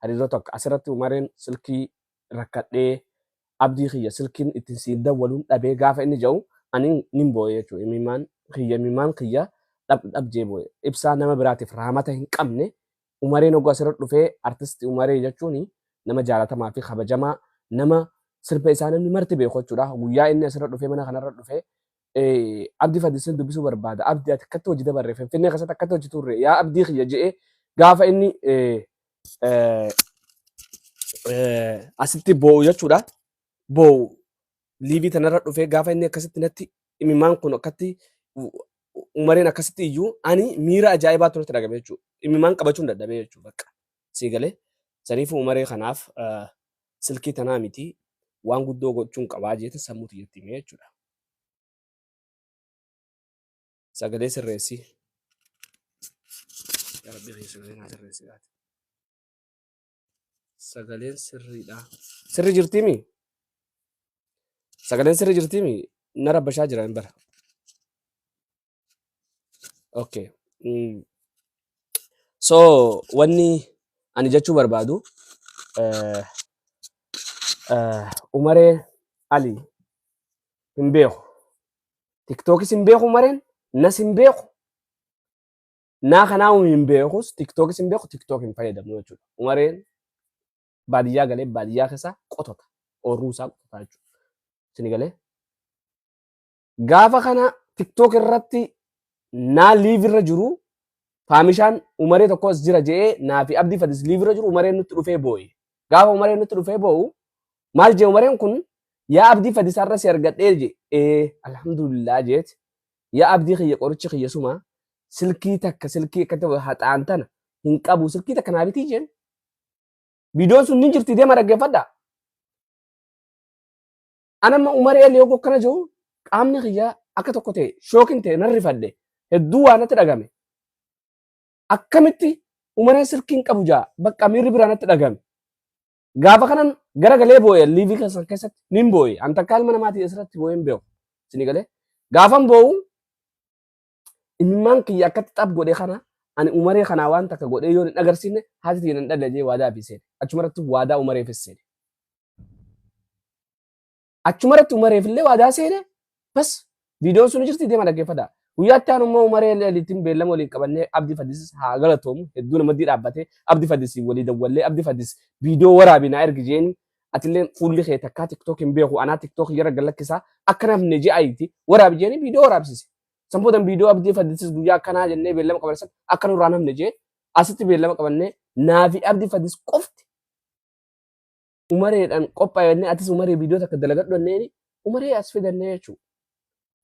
Hariiroo takka asirratti Umareen silkii rakkadhee Abdii kiyya silkiin ittiin siif dawwaluun dhabee gaafa inni ja'u ani nin booye jechuudha. Imimmaan kiyya imimmaan kiyya dhab dhab jee booye. Ibsaa nama biraatiif raamata hin qabne Umareen oguu asirra dhufee artisti Umaree jechuun nama jaalatamaa fi kabajamaa nama sirba isaa namni marti beeku jechuudha. Guyyaa inni asirra dhufee mana kanarra dhufee eh, Abdi Fadilsin dubbisuu barbaada. Abdi ati akkatti hojii dabarre Finfinnee keessatti akkatti hojii turre yaa Abdii kiyya je'ee gaafa inni eh, eh, eh, asitti boo'u jechuudha. Boo'u liivii tanarra dhufee gaafa inni akkasitti natti imimaan kun akkatti u- u- umariin akkasitti iyyuu ani miira ajaa'ibaa turetti dhagame jechuudha. Imimaan qabachuun dadhabee jechuudha bakka sii galee. Saniifuu umaree kanaaf eh, silkii tanaa miti waan guddoo gochuun qabaa jeetin sammuu tiyyatti himee jechuudha. Sagalee sirreessi. Yaa Rabbi kiyya sagalee naa sirreessi laata. Sagaleen sirriidha. Sirri jirtiimi? Sagaleen sirri jirtiimi? Na rabbashaa jira hin bara. Okay. Mm. So wanni ani jechuu barbaadu eh, eh, Umaree Ali hin beeku. Tiktookis hin beeku Umareen, nas hin beeku. Naa kanaa hin beekus, tiktookis hin beeku, tiktook hin fayyadamu jechuudha. Umareen baadiyyaa galee baadiyyaa keessa qotota. Oorruu isaa qotota jechuudha. Sini galee Gaafa kana TikTok irratti naa live irra jiru faamishaan umaree tokko as jira je'ee naa fi abdii fadis live irra jiru umareen nutti dhufee booye. Gaafa umareen nutti dhufee boo'u maal jee umareen kun yaa abdii fadis har'a si argadhee je ee alhamdulillah jeet yaa abdii kiyya qorichi kiyya suma silkii takka silkii akkatti haxaan tana hin qabu silkii takka naa bitii jeen. Viidiyoon sun ni jirti deema dhaggeeffadha. An amma Umar Eel yoo akkana jiru qaamni kiyya akka tokko ta'e shookin ta'e nan rifadhe hedduu waa natti dhagame. Akkamitti Umareen silkiin qabu jaa bakka miirri biraa natti dhagame. Gaafa kanan gara galee boo'e liivii keessan keessatti nin boo'e an takkaa ilma namaatii asirratti boo'een beeku. Sini galee gaafan boo'u Imimmaan kiyya akkatti xab godhe kana ani umaree kanaa waan takka godhee yoon hin agarsiifne haati tiyya nan dhalla jee waadaa fi seene. Achumarratti waadaa umareefis seene. Achumarratti umareef illee waadaa seene bas viidiyoon sun jirti deema dhaggeeffadha. Guyyaatti aanu immoo umaree liitiin beellama waliin qabannee abdi fadis haa galatoomu hedduu namatti dhaabbatee abdi fadis walii dawwallee abdi fadis viidiyoo waraabi naa ergi jeeni atillee fuulli kee takkaa tiktook hin beeku anaa tiktook jara galakkisaa akka namni je'aayiti waraabi jeeni viidiyoo waraabsise. San boodan viidiyoo abdii faddisis guyyaa akkanaa jennee beellama qabanne san akka nurraa hin hafne jee asitti beellama qabannee naafi abdii faddis qofti umareedhaan qophaa'ennee atis umaree viidiyoo takka dalagadhu jenneeni umaree as fidannee jechuudha.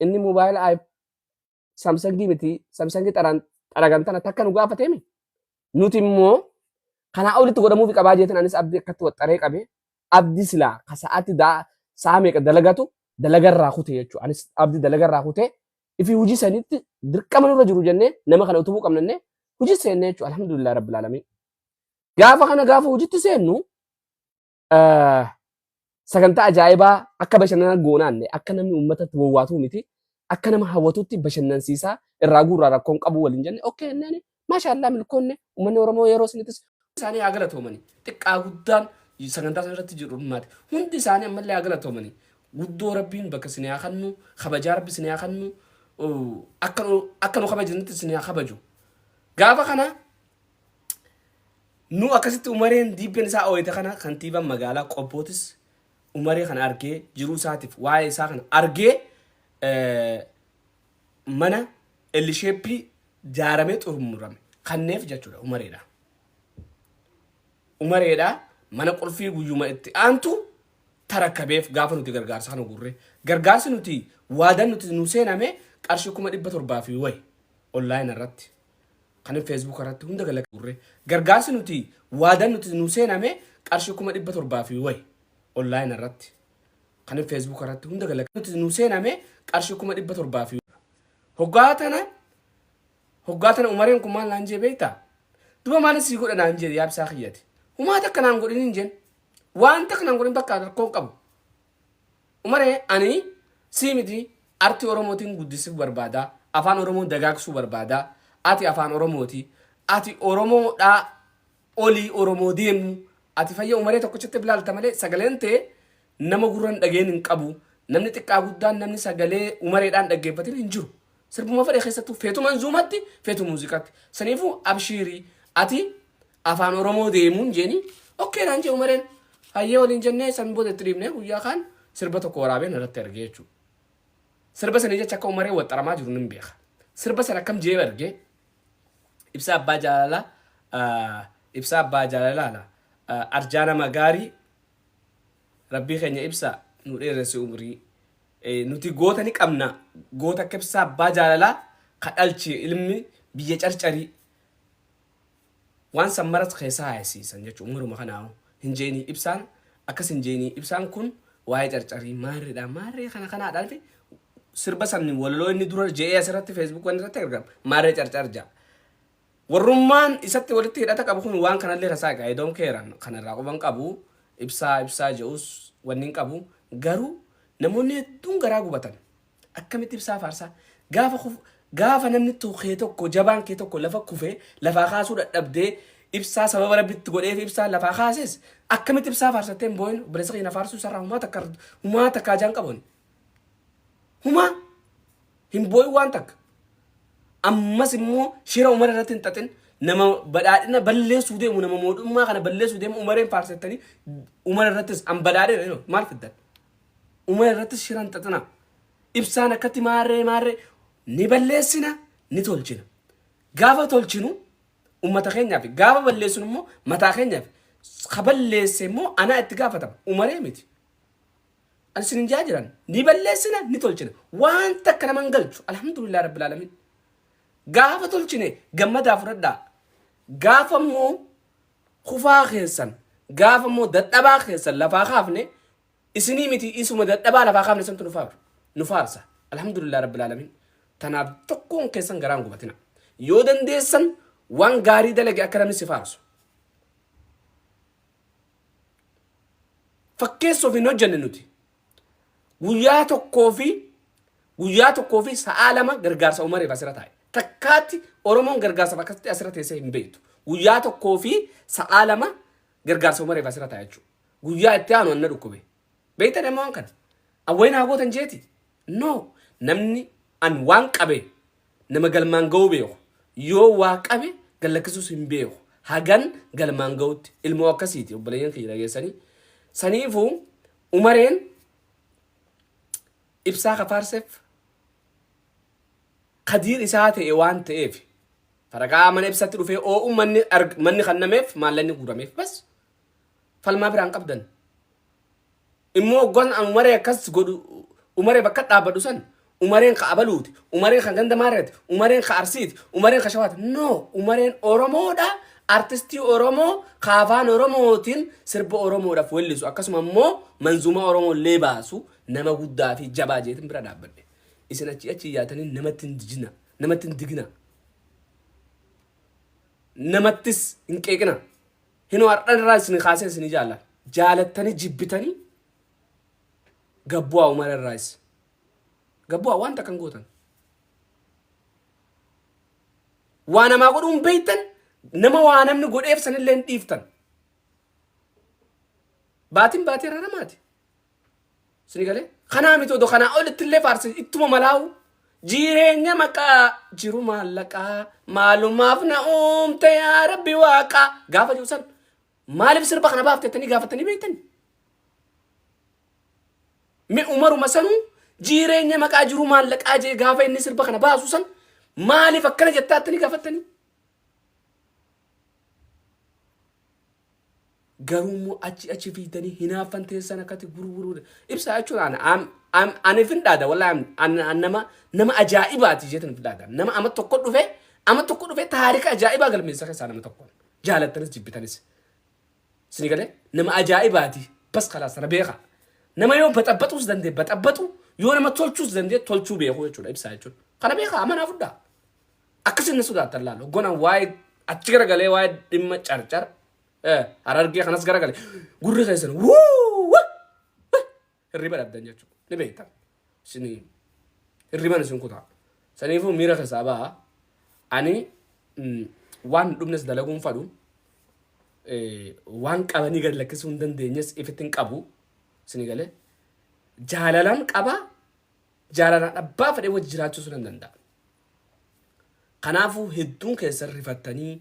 Inni moobaayila aayip saamsangii miti saamsangii xaraan xaragan tana takka nu gaafateemi. Nuti immoo kanaa olitti godhamuufi qabaa jeetan anis abdii akkatti waxxaree qabee Abdi silaa ka sa'aatti daa sa'a meeqa dalagatu dalaga irraa kute jechuudha. Anis abdi dalaga irraa kute ifi hojii sanitti dirqama nurra jiru jennee nama kana utubuu qabnannee hojii seennee jechuudha. Alhamdulillah Rabbil Aalamiin. Gaafa kana gaafa hojiitti seennu eh, sagantaa ajaa'ibaa akka bashannana goonaanne akka namni uummatatti wawwaatuu miti akka nama hawwatutti bashannansiisaa irraa guurraa rakkoon qabu waliin jenne okkee inneen Maashaallaa milkoonne uummanni Oromoo yeroo sunitis isaanii haa galatoomani. Xiqqaa guddaan sagantaa sana irratti jiru dhummaate. Hundi isaanii ammallee haa galatoomani. Guddoo Rabbiin bakka isin haa kannu, kabajaa Rabbi isin haa kannu, akka nu akka nu kabajanitti isin haa kabaju. Gaafa kana nu akkasitti umareen diibbeen isaa ooyite kana kantiibaan magaalaa qobbootis umaree kana argee jiruu isaatiif waa'ee isaa kana argee mana L shape jaaramee xurmurame kanneef jechuudha umareedha. Umareedha mana qulfii guyyuma itti aantu tarakkabeef gaafa nuti gargaarsa kana gurre gargaarsi nuti waadan nuti nu seename qarshii kuma dhibba torbaa fi wayi online irratti kan Facebook irratti hunda gala gurre gargaarsi nuti waadan nuti nu seename qarshii kuma dhibba torbaa fi wayi online irratti kanin feesbuuka irratti hunda galakatti nu seename qarshii kuma dhibba torbaa fi hoggaa tana hoggaa tana umareen kun maal naan jee beektaa duba maal sii godha naan jee yaabsaa kiyyati humaa takka naan godhin hin jeen waan takka naan godhin bakka rakkoo hin qabu umaree ani sii miti artii oromootiin guddisuu barbaada afaan oromoo dagaagsuu barbaada ati afaan oromooti ati oromoodhaa olii oromoo deemuu ati fayya umaree tokkochitti bilaalta malee sagaleen tee nama gurran dhageen hin qabu namni xiqqaa guddaan namni sagalee umareedhaan dhaggeeffatin hin jiru sirbuma fedhe keessattuu feetu manzuumatti feetu muuziqatti saniifuu abshiirii ati afaan oromoo deemuun jeeni okkee naan jee umareen hayyee waliin jennee san booda itti dhiibnee guyyaa kaan sirba tokko waraabeen irratti argee jechuudha sirba sanii jecha akka umaree waxxaramaa jiru nin beeka sirba san akkam jee argee Ibsaa abbaa jaalala Ibsaa abbaa jaalala la Arjaa nama gaarii Rabbii keenya ibsa nu dheeressi umrii Nuti goota ni qabna goota akka ibsaa abbaa jaalala ka dhalche ilmi biyya carcarii Waan san marat keessa haayessiisan jechuun maruma kanaahu hin je'inii ibsaan akkas hin je'inii ibsaan kun waa'ee carcarii maarridha maarree kana kanaadhaati sirba san walaloo inni dura je'ee asirratti feesbuuk waan irratti argama maarree carcar ja'a. Warrummaan isatti walitti hidhata qabu kun waan kanallee kasaa egaa edoon keeran kanarraa quban qabu ibsaa ibsaa je'us wanni hin qabu garuu namoonni hedduun garaa gubatan. Akkamitti ibsaa faarsaa? Gaafa kuf gaafa namni to kee tokko jabaan kee tokko lafa kufee lafaa kaasuu dadhabdee ibsaa sababa rabbi itti godheef ibsaa lafaa kaases akkamitti ibsaa faarsattee hin boo'in obboleessa keenya faarsuu isarraa humaa takka humaa takka ajaan qabuun humaa hin boo'in waan takka ammas immoo shira umara irratti hin xaxin nama badhaadhina balleessuu deemu nama mootummaa kana balleessuu deemu umareen faarsattanii umara irrattis an badhaadhina maal fiddan Uma irrattis shira hin xaxinaa. Ibsaan akkatti maarree maarree ni balleessina ni tolchina. Gaafa tolchinu ummata keenyaaf gaafa balleessinu immoo mataa keenyaaf ka balleesse immoo anaa itti gaafatama umaree miti. Ani isin hin jaa jiran ni balleessina ni tolchina waan takka nama hin galchu alhamdulillah rabbil alamin. Gaafa tolchine gammadaa fudhadhaa. Gaafa immoo kufaa keessan gaafa immoo dadhabaa keessan lafaa kaafne isinii miti isuma dadhabaa lafaa kaafne santu nu faarsa nu faarsa alhamdulillah rabbil alamin tanaaf tokkoon keessan garaan gubatina yoo dandeessan waan gaarii dalage akka namni si faarsu fakkeessuuf hin hojjenne nuti Guyyaa tokkoo fi guyyaa tokkoo fi sa'aa lama gargaarsa Umareef asirra taa'e. Takkaatti Oromoon gargaarsaaf akkasitti asirra teessee hin beektu. Guyyaa tokkoo fi sa'aa lama gargaarsa Umareef asirra taa'e jechuudha. Guyyaa itti aanu anna dhukkube. Beektan immoo waan kana. Awwayii naa gootan jeeti. No. Namni an waan qabe nama galmaan ga'uu beeku. Yoo waa qabe gallakkisuus hin beeku. Hagan galmaan ga'utti ilmoo akkasiiti obboleeyyan kiyya dhageessanii. Saniifuu Umareen ibsaa ka faarsef kadiir isaa ta'e waan ta'eef faragaa mana ibsatti dhufee oo'u manni arg- manni kannameef maallaqni guurameef bas falmaa biraan qabdan immoo oggoon an umaree akkas godhu umaree bakka dhaabbadhu san Umareen ka abaluuti, umareen ka ganda maarreeti, umareen ka arsiiti, umareen ka shawaati. No! Umareen Oromoodha, artistii Oromoo ka afaan Oromootiin sirba Oromoodhaaf wellisu akkasuma immoo manzuumaa Oromoo illee baasu nama guddaa fi jabaa jeetin bira dhaabbadhe. Isin achii achi iyyaatanii namatti hin jijina, namatti hin digina, namattis hin qeeqina. Hinoo har'an irraa isin kaasee isin jaalla. Jaalattanii jibbitanii gabbu'aa Umar irraayis. Gabbu'aa waan takka hin gootan. Waa namaa godhuu hin beektan nama waa namni godheef sanillee hin dhiiftan. Baatiin baatii irra namaati. Sini galee kanaa miti odoo kanaa olitti illee faarsi ittuma malaa'u. Jireenya maqaa jiru maallaqaa maalumaaf na uumte yaa rabbi waaqaa gaafa jiru san maaliif sirba kana baaftettanii gaafattanii beektanii? Me umaruma sanu jireenya maqaa jiruu maallaqaa jee gaafa inni sirba kana baasu san maaliif akkana jettaa attani gaafattanii? Garuu immoo achi achi fiidanii hinaaffan teessan akkati gurguruu ibsaa jechuun ana am am ani fin dhaada wallaahi am- an- an- nama nama ajaa'ibaati jeetan fin dhaada nama ama tokko dhufe ama tokko dhufe taarika ajaa'ibaa galmeessa keessaa nama tokko jaalattanis jibbitanis. Sini galee? Nama ajaa'ibaati. Bas kalaas sana beeka. Nama yoo baxabaxuus dandee baxabaxu yoo nama tolchuus dandee tolchuu beekuu jechuudha ibsaa jechuudha. Kana beeka amanaa fudhaa. Akkasiin na sodaatan laala. Hogganaan waa'ee achi garagalee waa'ee dhimma carcar harargee kanas garagalee gurri keessan wuu hirriba dhabdan jechuu ni beektan isin hirriban isin kutaa saniifuu miira keessaa ba'a ani mm, waan hin dhumnes dalaguun fadhu eh, waan qabanii gad lakkisuu hin dandeenyes ifitti hin qabu isin galee jaalalan qaba jaalalaan abbaa fedhee wajji jiraachuu sun hin danda'a kanaafuu hedduun keessan rifattanii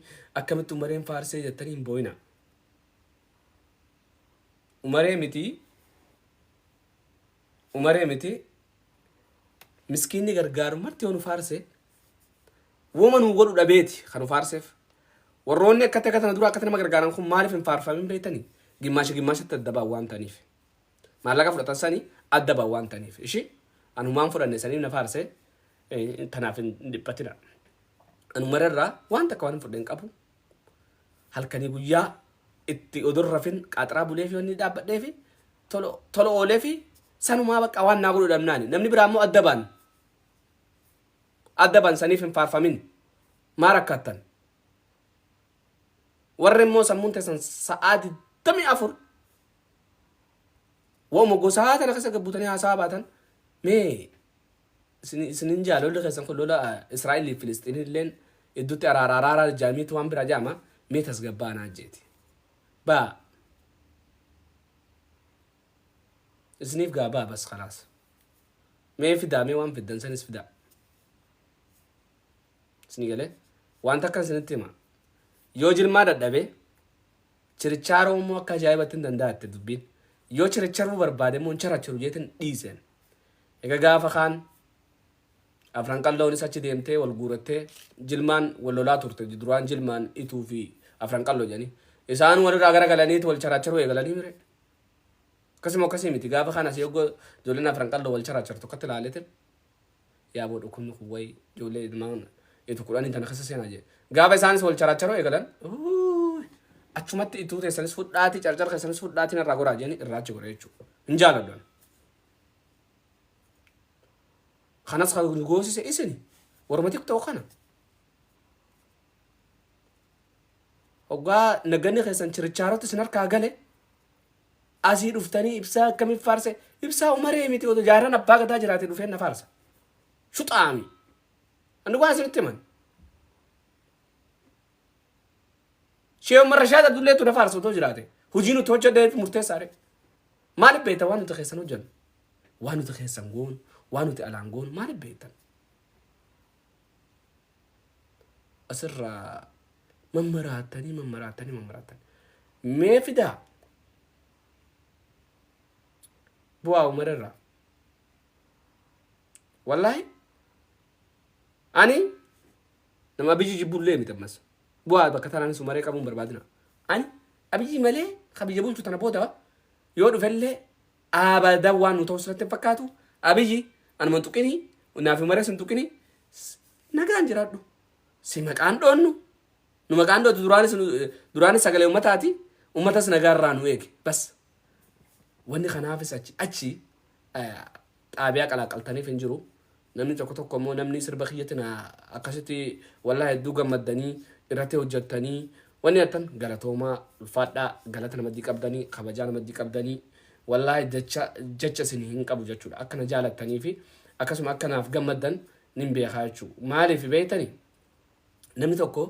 akkamitti umareen faarsee jettanii hin boo'ina umaree mitii umaree miti miskiinni gargaaru marti yoo nu faarse woma nu godhu dhabeeti kan nu faarseef warroonni akkatti akka tana dura akkatti nama gargaaran kun maaliif hin faarfamin beektanii gimmaasha gimmaashatti adda ba'an waan ta'aniif maallaqa fudhatan sanii adda ba'an waan ta'aniif ishii anumaan fudhanne sanii na faarse eh, tanaaf hin dhiphatina anumararraa waan takka waan hin fudheen qabu halkanii guyyaa itti odoo hin rafin qaaxaraa buleefi wanni dhaabbadheefi tolo tolo ooleefi sanumaa bakka waan naa godhu dhabnaani namni biraa immoo adda baan adda baan saniif hin faarfamin maa rakkaattan warri immoo sammuun teessan sa'aa digdamii afur wa'uma gosaa tana keessa gabbuutanii haasaa baatan mee Isin isin hin jaa lolli keessan kun lola Israa'el fi Filisxiin illeen iddutti araara araara jaamiitti waan biraa jaama mee tasgabbaanaa jeeti. Baa isiniif gaa baa bas kalaas. Mee fidaa mee waan fiddan sanis fidaa. Isinii galee waan takkan isinitti hima. Yoo jilmaa dadhabee Chirichaaroo immoo akka ajaa'ibattin danda'atte dubbiin. Yoo chiricharuu barbaade immoo hin characharu jeetin dhiiseen. Egaa gaafa kaan afran qalloonis achi deemtee wal guurattee jilmaan wal lolaa turte duraan jilmaan ituu fi afran qalloo jedhanii. Isaan walirraa gara galaniit wal characharuu eegalanii mire. Akkasuma akkasii miti gaafa kaan asii oggoo ijoolleen afran qalloo wal charachartu akkatti ilaaleetin. Yaaboo dhukkubni kun wayi ijoollee ilmaan itu kudhanii tana keessa seenaa jee. Gaafa isaanis wal characharoo eegalan uuy, achumatti ituu teessanis fudhaatii carcar keessanis fudhaatii narraa goraa jeeni irraa achi godhe jechuudha. Hin jaaladhu ani. Kanas kan nu goosise isin warma tiktok kana. Hoggaa nagganni keessan chirichaarotti isin harkaa gale Asii dhuftanii ibsaa akkamiin faarse? Ibsaa umaree miti otoo jaarran abbaa gadaa jiraate dhufeen na faarsa. Shuxaami. Ani waan isinitti himan. Shee Umar Rashaad Abdulleetu na faarsa otoo jiraate. Hojii nuti hojjedheef murteessaadhe. Maaliif beektan waan nuti keessan hojjennu? Waan nuti keessan goonu, waan nuti alaan goonu maaliif beektan? asirraa mammaraattanii mammaraattanii mammaraattanii mee fidaa bu'aa umara irraa wallaahi ani nama biyyi jibbullee miti ammas bu'aa bakka tanaanis umaree qabuun barbaadina ani abiyyi malee ka biyya bulchu tana booda yoo dhufellee Abadan waan nu ta'u sirratti hin fakkaatu. Abiyyi anuma hin tuqini, naaf hin maras hin tuqini. S- Nagaan jiraadhu. Si maqaan dhoonnu. Nu maqaan dhootu duraanis nu- duraanis sagalee ummataati. Ummatas nagaa irraa nu eege. Bas. Wanni kanaafis achi achi eh, xaabiyaa qalaaqaltaniif hin jiru. Namni tokko tokko immoo namni sirba kiyyatti na akkasitti wallahi hedduu gammaddanii irratti hojjattanii wanni attan galatoomaa ulfaadhaa galata namaddi qabdanii kabajaa namaddi qabdanii wallahi jecha jecha isin hin qabu jechuudha akka na jaalattanii fi akkasuma akka naaf gammaddan nin beekaa jechuu maaliif beektani namni tokko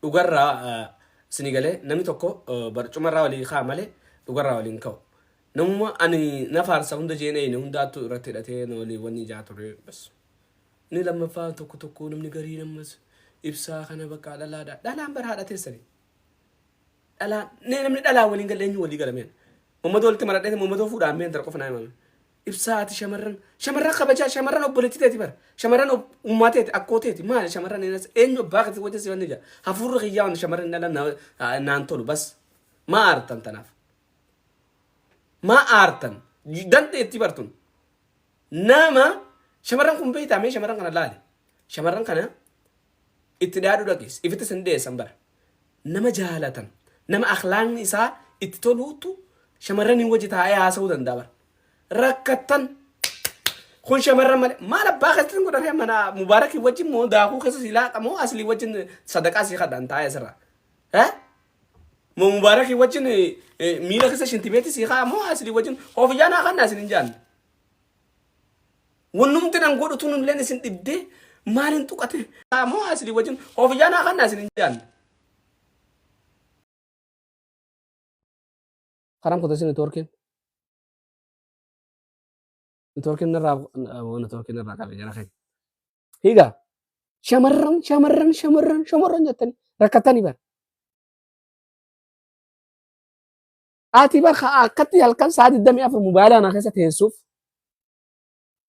dhugarraa eh, isinii galee namni tokko eh, barcumarraa walii kaa malee dhugarraa waliin ka'u Namuma ani na faarsa hunda jeen eeyne hundaattu irratti hidhatee na waliin wanni ijaa ture bas. Inni lammaffaa tokko tokko namni garii nammas ibsaa kana bakka dhalaadha. Dhalaan bara haadha teessani. Dhalaan nee namni dhalaa waliin galle eenyu walii galameen. Mammadoo walitti maradhee mammadoo fuudhaan mee intala qofa naa himame. Ibsaa ati shamarran shamarran kabajaa shamarran obboleetti teeti bara. Shamarran ob- ummaa teeti akkoo teeti maali shamarran eenyas eenyu abbaa kati wajjin si wanni jaa. Hafuurri kiyyaa wanni shamarran dhalan na- naan tolu bas. Maa aartan tanaaf. Maa aartan? Dandeettii bartun. Nama shamarran kun beektaa mee shamarran kana laali. Shamarran kana itti dhaaduu dhagees. Ifitti sin dhiyeessan bara. Nama jaalatan. Nama akhlaaqni isaa itti toluutu shamarraniin wajji taa'ee haasa'uu danda'a bara. Rakkattan. Kun shamarran malee. Maal abbaa keessatti hin godhan mana mubaarakii wajjin moo daakuu keessa si laaqa moo aslii wajjin sadaqaa si kadhan taa'ee asirraa. Eh? Mo Mubaaraki wajjin miila keessa shintibeetti sii haa moo asli wajjin ofiyyaa naa kannaa isin hin jaan. Wannumti nan godhu tun illeen isin dhibdee maaliin tuqate haa moo asli wajjin ofiyyaa naa kannaa isin hin jaan. Karam kutu isin networkin. Networkin irraa networkin irraa qabe jara keenya. Higa shamarran shamarran shamarran shamarran jettanii rakkatanii bara. Ati bar ka akkatti halkan saa 24 mobaayilaa naa keessa teessuuf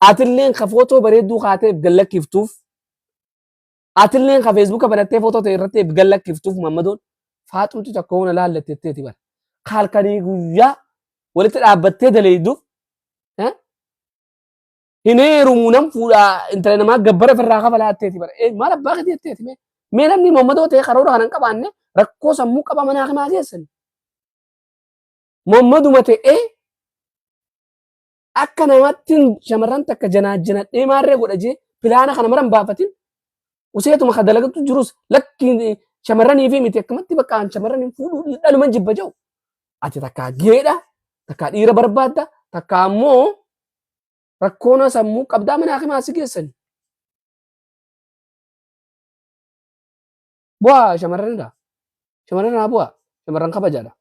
atilleen ka footoo bareedduu kaateef gallakkiftuuf atilleen ka feesbuuka banattee footoo ta'e irratti gallakkiftuuf mammadoon faaxumti tokko hona laallattetteeti bara. Ka halkanii guyyaa walitti dhaabbattee daleeyduuf hin heerumu nan fuudha intala namaa gabbara firraa kafalaa atteeti bara ee maal abbaa keetii atteeti mee mee namni moommadoo ta'e karoora kana hin qabaanne rakkoo sammuu qaba manaa kimaa geessan moommaduma ta'ee akka namatti shamarran takka janaajjanadhee maarree godha jee pilaana kana maran baafatin useetuma ka dalagatu jirus lakki shamarranii fi miti akkamatti bakka an shamarran hin fuudhu dhaluman jibba jau ati takkaa geedha takkaa dhiira barbaadda takkaa ammoo Rakkoonaa sammuu qabdaa mana hakimaa si geessani. Bu'aa shamarranidha. Shamarran haa bu'aa. Shamarran kabajaadha.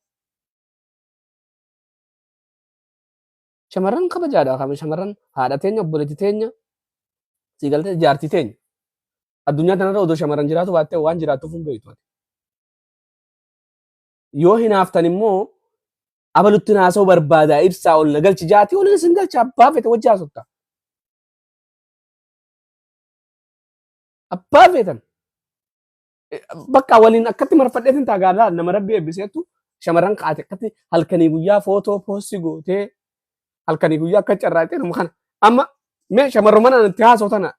Shamarran kabajaadha. Kama Shamarran haadha teenya, obboleetti teenya, sii galtee jaartii teenya. Addunyaa tanarra odoo shamarran jiraatu baattee waan jiraattuuf hin beektu. ati. yoo hinaaftan immoo abalutti naasoo barbaada ibsaa ol na galchi jaati ol isin galcha abbaa fete wajji haasofta. Abbaa feetan bakka waliin akkatti marfadheetin taagaadhaa nama rabbi eebbiseettu shamarran kaate akkatti halkanii guyyaa footoo poostii gootee halkanii guyyaa akka carraaqee nama kana amma mee shamarru mana itti haasoo tana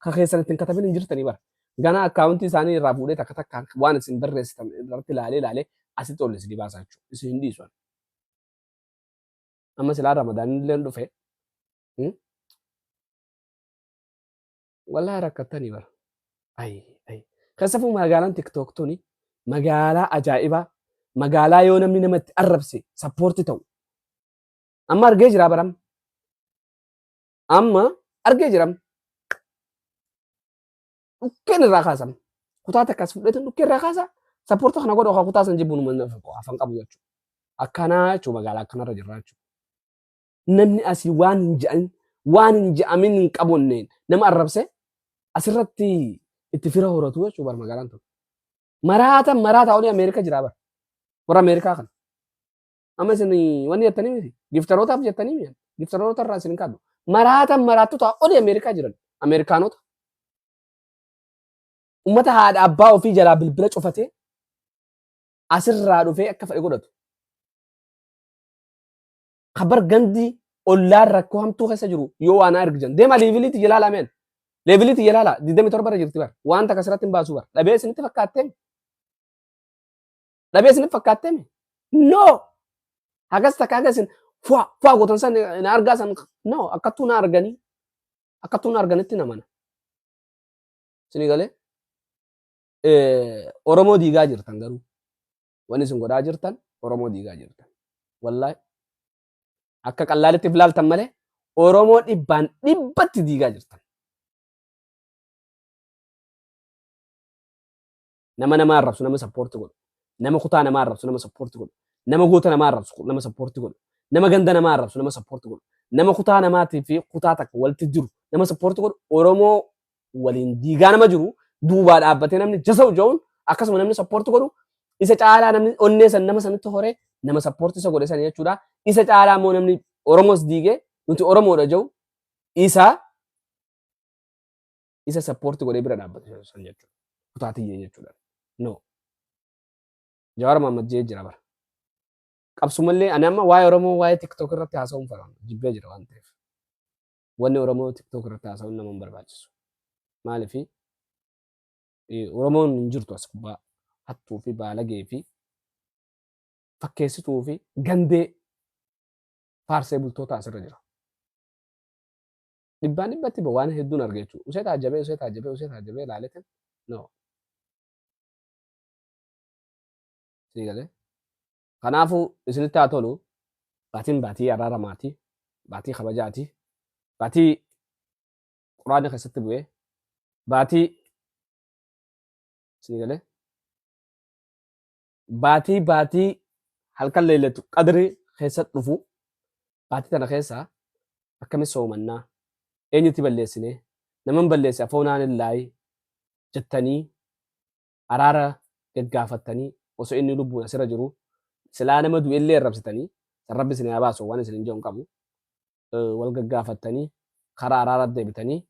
ka keessan ittiin katabin hin jirtanii bara. Ganaa akkaawuntii isaanii irraa fuudhee takka takkaan waan isin barreessitan irratti ilaalee ilaalee asitti ol isin baasaa jechuudha. Isin hin dhiisu. Amma silaa ramadaan illee dhufe. Wallaahi rakkattanii bara. Ayi ayi. Keessafuu magaalaan tiktook tuni magaalaa ajaa'ibaa magaalaa yoo namni namatti arrabse sappoorti ta'u. Amma argee jira baram. Amma argee jiram. Dhukkeen irraa kaasam. Kutaa takka as fudhatan dhukkee irraa kaasa. Sappoorta kana godha kutaa san jibbuun uummanni afan qabu jechuudha. Akkanaa jechuudha magaalaa akkanarra jirra jechuudha. Namni asii waan hin je'an waan hin je'amin hin qabonneen nama arrabse asirratti itti fira horatu jechuudha bar magaalaan tun. Maraata maraata olii Ameerikaa jiraa bar. Warra Ameerikaa kana. Amma isin wanni jettanii miti. Giftarootaaf jettanii miti. Giftaroota irraa isin hin kaadhu. Maraatan maraattota oli Ameerikaa jiran. Ameerikaanota. Uummata haadha abbaa ofii jalaa bilbila cufatee asirraa dhufee akka fedhe godhatu. Kabar gandi ollaan rakkoo hamtuu keessa jiru yoo waan argitan. Deema leeviliitti jalaala meen. Leeviliitti jalaala 27 irra jirti bar. Waan takka asirratti hin baasu bar. Dhabee isinitti fakkaattee. dhabee isin fakkaattee mi? No! Hagas takka hagas isin fuwa fuwa gootan san na argaa san no akkattuu na arganii akkattuu na arganitti na mana. Isin galee Oromoo diigaa jirtan garuu wanni isin godhaa jirtan Oromoo diigaa jirtan. Wallaahi akka qallaalitti ilaaltan malee Oromoo dhibbaan dhibbatti diigaa jirtan. Nama nama arrabsu nama sappoorti godhu. Nama kutaa nama arrabsu nama sappoorti godhu. Nama goota nama arrabsu nama sappoorti godhu. Nama ganda nama arrabsu nama sappoorti godhu. Nama kutaa namaatii fi kutaa takka walitti jiru nama sappoorti godhu. Oromoo waliin diigaa nama jiru duubaa dhaabbatee namni jasa'u ja'uun akkasuma namni sappoorti godhu isa caalaa namni onnee san nama sanitti horee nama sappoorti isa godhe san jechuudha. Isa caalaa immoo namni Oromoos diigee nuti Oromoodha ja'u isa isa support godhee bira dhaabbatu san jechuudha. Kutaa tiyya jechuudha. No. Jawaar Mohaammed jee jira bara. Qabsumallee ani amma waa'ee Oromoo waa'ee TikTok irratti haasa'uun fara jibbee jira waan ta'eef. Wanni Oromoo TikTok irratti haasa'uun nama hin barbaachisu. Maaliif Oromoon hin jirtu as gubbaa hattuu fi baalagee fi fakkeessituu fi gandee faarsee bultoota asirra jira. dhibbaan dhibbatti ba waan hedduun arga jechuudha. Usee taajjabee usee taajjabee usee taajjabee ilaaleetin no. Sii galee. Kanaafuu isinitti haa tolu baatiin baatii araaramaati baatii kabajaati baatii quraana keessatti bu'ee baatii sii galee baatii baatii halkan leellatu qadri keessa dhufu baatii tana keessa akkamitti soomannaa eenyutti balleessine naman balleesse afoonaan illaayi jettanii araara gaggaafattanii osoo inni lubbuun asirra jiru silaa nama du'ellee arrabsitanii san rabbi isin haa baasu waan isin hin jedhu hin qabu wal gaggaafattanii karaa araaraatti deebitanii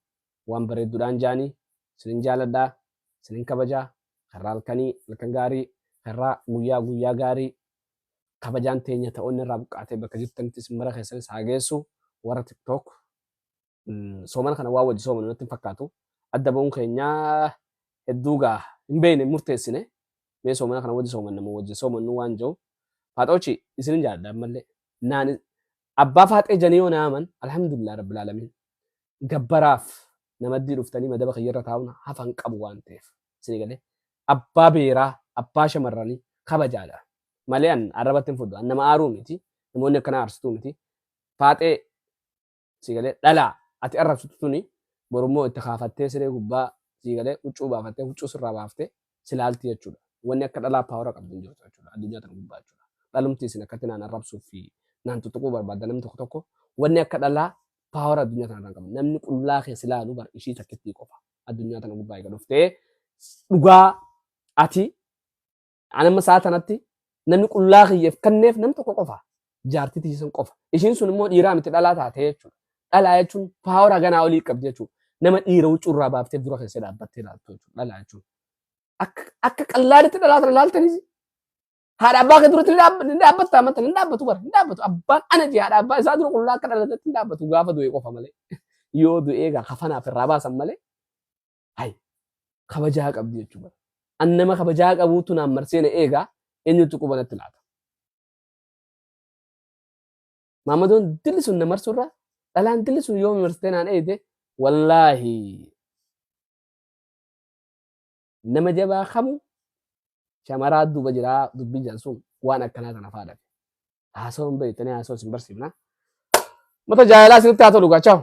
waan bareeddudhaan jaanii sinin jaaladhaa sinin kabajaa karraa halkanii halkan gaarii karraa guyyaa guyyaa gaarii kabajaan teenya ta'oonni irraa buqqaatee bakka jirtanitti sin mara keessanis haa geessu warra tiktook soomana kana waa wajji soomanu natti hin fakkaatu adda ba'uun keenyaa hedduu gaa hin beekne murteessine mee soomana kana wajji soomanna moo wajji soomannu waan jiru faaxoochi isinin jaalladha ammallee naan Abbaa faaxee janii yoo naaman alhamdulillah rabbil alamiin gabbaraaf namaddii dhuftanii madaba kiyyarra taa'uun hafa hin qabu waan ta'eef isinii galee abbaa beeraa abbaa shamarranii kabajaadha malee an arrabatti hin fudhu an nama aaruu miti namoonni akkanaa aarsituu miti faaxee sii galee dhalaa ati arrabsitu tuni borummoo itti kaafattee siree gubbaa sii galee huccuu baafattee huccuu sirraa baaftee si laalti jechuudha. Wanni akka dhalaa paawara qabdu hin jirtu jechuudha. Addunyaa tana gubbaa jechuudha. Dhalumti isin akkatti naan arrabsuuf fi naan tuttuquu barbaadda namni tokko tokko wanni akka dhalaa paawara addunyaa tana irraan qabu. Namni qullaa kee si laalu bar ishii takkittii qofa. Addunyaa tana gubbaa eega dhuftee dhugaa ati anamma isaa tanatti namni qullaa kiyyeef kanneef nam tokko qofa. jaartii tiyyisan qofa. Ishiin sun immoo dhiiraa miti dhalaa taatee jechuudha. Dhalaa jechuun paawara ganaa olii qabdi jechuudha. Nama dhiira huccuu irraa baaftee dura keessee dhaabbattee ilaaltu jechuudha. Dhalaa jechuun. Akka akka qallaaditti dhalaa sana ilaaltanis haadha abbaa kee duratti ni dhaabbatta amanta ni dhaabbatu bara ni dhaabbatu abbaan ana jee haadha abbaa isaa dura qullaa akka dhalatatti ni dhaabbatu gaafa du'e qofa malee yoo du'ee gaa kafanaaf irraa baasan malee hay kabajaa qabdi jechuudha. An nama kabajaa qabuutu naan marsee na eegaa eenyutu qubanatti laata. Maammadoon dilli sun na marsuurra dhalaan dilli sun yoo marsitee naan eeyite wallaahi nama jabaa kamu shamaraa duuba jiraa dubbii jedhan sun waan akkanaa kana faadha. Haasawan beektanii haasawa isin barsiifna. Mata jaalalaa isinitti haa tolu gaachaa'u.